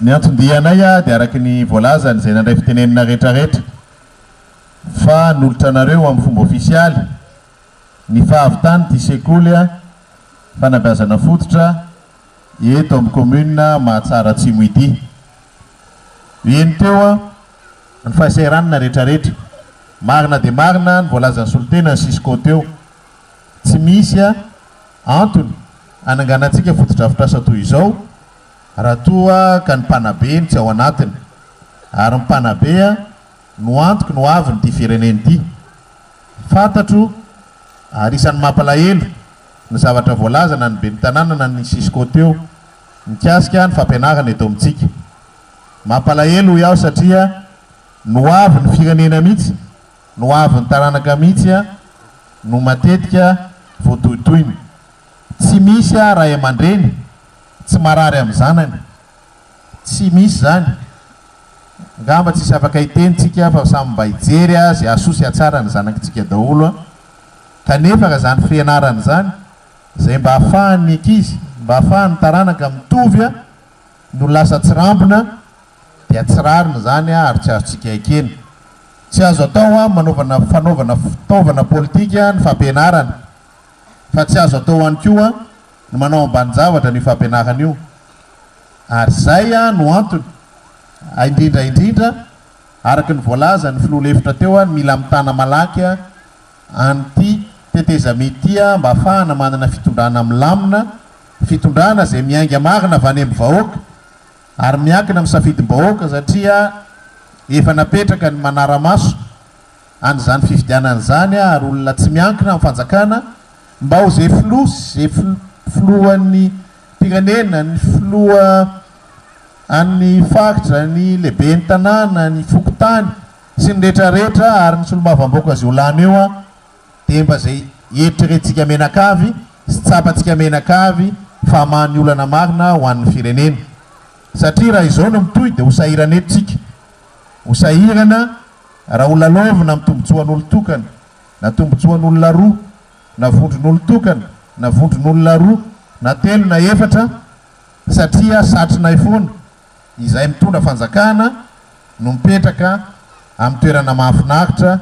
Ny anton-dianay dia araka ny voalazan' izay nandray fitenenana rehetrarehetra, fa nolotra anareo amin'ny fomba ofisialy ny fahavitan' ity sekoly fanabeazana fototra eto amin'ny kaominina Mahatsara Atsimo ity. Heno teo ny fahasahiranana rehetrarehetra. Marina dia marina ny voalazan'ny solontenan'ny Cisco teo. Tsy misy antony hananganantsika fotodrafitrasa toy izao. Raha toa ka ny mpanabe no tsy ao anatiny, ary ny mpanabe no antoky ny ho avin'ity firenena ity. Fantatro, ary isan'ny mampalahelo, ny zavatra voalaza na ny ben'ny tanàna na ny cisco teo, mikasika ny fampianarana eto amintsika. Mampalahelo hoy aho satria ny ho avin'ny firenena mihitsy, ny ho avin'ny taranaka mihitsy no matetika voatohitohina. Tsy misy ahy ray aman-dreny, Tsy marary amin'ny zanany. Tsy misy izany. Ngamba tsisy afaka hiteny tsika fa samy mba hijery azy hahasoa sy hahatsara ny zanakitsika daholo an! Kanefa ka zany frianarana zany zay mba afahan'ny ankizy, mba afahan'ny taranaka mitovy an! no lasa tsirambina dia tsy rariny zany an! ary tsy azontsika ekena. Tsy azo atao an! manaovana fanaovana fitaovana politika ny fampianarana Fa tsy azo atao ihany koa ny manao ambanin-javatra an'io fampianarana io. Ary izay no antony, indrindra indrindra, araka ny voalazan'ny filoha lefitra teo, ny mila mitana malaky an'ity tetezamita ity mba hahafahana manana fitondrana milamina, fitondrana izay miainga marina avy any amin'ny vahoaka ary miankina amin'ny safidim-bahoaka satria efa napetraka ny manara-maso. an' izany fifidianana izany ary olona tsy miankina amin'ny fanjakana mba ho ze filoha sy ze filohan'ny pirenena, ny filoha an'ny faritra, ny lehiben'ny tanàna, ny fokontany sy ny rehetra rehetra ary ny solombavambaoka zay ho lany eo an dia mba zay eritreretintsika menakavy sy tsapantsika menakavy fa hamaha ny olana marina ho an'ny firenena satria raha izao no mitohy dia ho sahirana eto tsika ho sahirana Raha ho lalaovina amin'ny tombontsoan'olon-tokana na tombontsoan'olona roa, na vondron'olon-tokana na vondron'olona roa na telo na efatra, satria satrinay foana, izay mitondra fanjakana no mipetraka amin'ny toerana mahafinaritra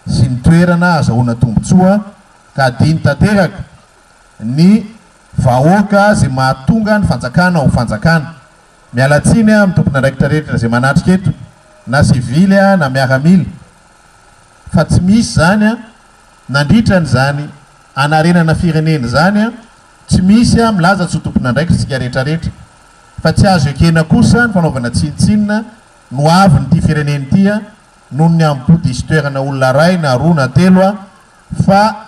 sy ny toerana azahoana tombontsoa ka adino tanteraka ny vahoaka izay mahatonga ny fanjakana ho fanjakana. Miala tsiny amin'ny tompon'andraikitra rehetra izay manatrika eto, na sivily na miaramila, fa tsy misy izany nandritra an'izany hanarenana firenena izany, tsy misy milaza tsy ho tompon'andraikitra isika rehetrarehetra, fa tsy azo ekena kosa ny fanaovana tsinontsinona ny ho avin'ity firenena ity noho ny amin'ny bodisin-toerana olona iray na roa na telo fa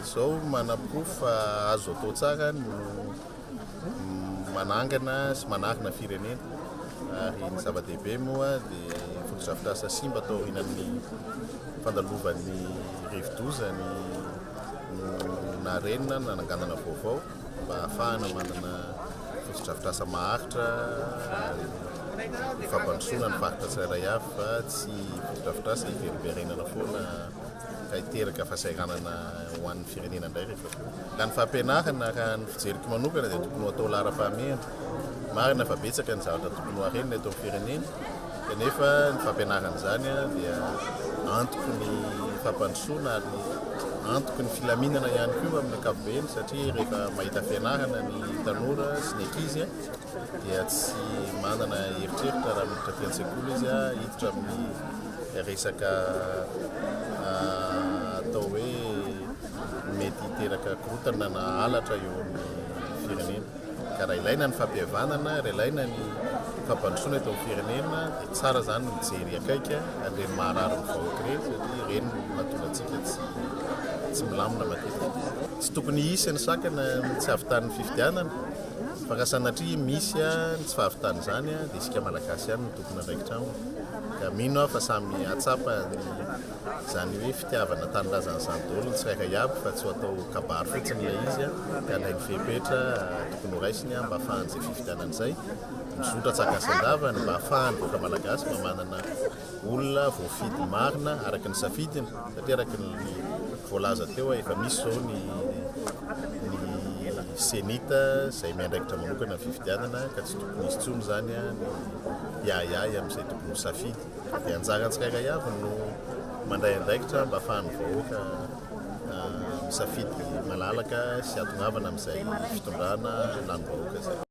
Izao manaporofo fa azo atao tsara ny manangana sy manarina firenena ary ny zava-dehibe moa dia fotodrafitrasa simba atao aorianan'ny fandalovan'ny rivodoza ny narenina nananganana vaovao. mba hahafahana manana fotodrafitrasa maharitra ary ny fampandrosoana ny faritra tsirairay avy fa tsy fotodrafitrasa hiverimberenana foana ka hiteraka fahasahiranana ho an'ny firenena indray rehefa koa. Ka ny fampianarana raha ny fijeriko manokana dia tokony ho atao laharam-pahamehana. Marina fa betsaka ny zavatra tokony ho harenina eto amin'ny firenena, Kanefa ny fampianarana izany dia antoky ny fampandrosoana ary antoky ny filaminana ihany koa amin'ny ankapobeny satria rehefa mahita fianarana ny tanora sy ny ankizy dia tsy manana eritreritra raha miditra aty an-tsekoly izy hiditra amin'ny resaka atao hoe mety hiteraka korontana na halatra eo amin'ny firenena. Ka raha ilaina ny fampihavanana, raha ilaina ny fampandrosoana eto amin'ny firenena dia tsara izany ny mijery akaiky an'ireny maharary ny vahoaka ireny satria ireny no mahatonga antsika tsy milamina matetika. Tsy tokony hisy ny sakana ny tsy hahavitan'ny fifidianana fa raha sanatria misy ny tsy fahavitan'izany dia isika Malagasy ihany no tompon'andraikitra aminy ka mino aho fa samy hahatsapa ny Izany hoe fitiavana tanindrazana izany daholo ny tsirairay avy fa tsy ho atao kabary fotsiny ilay izy a, dia alainy fepetra tokony ho raisiny mba afahan'izay fifidianana izay mizotra tsara gasy an-davany mba afahan'ny vahoaka malagasy mba manana olona voafidy marina araka ny safidiny satria araka ny voalaza teo a efa misy izao ny ny cenit izay miandraikitra manokana ny fifidianana ka tsy tokony hisy intsony izany a ny hiahiahy amin'izay tokony ho safidy. Dia anjaran'ny tsirairay avy no mandray andraikitra mba afahan'ny vahoaka misafidy malalaka sy atongavana amin'izay fitondrana lanim-bahoaka izay.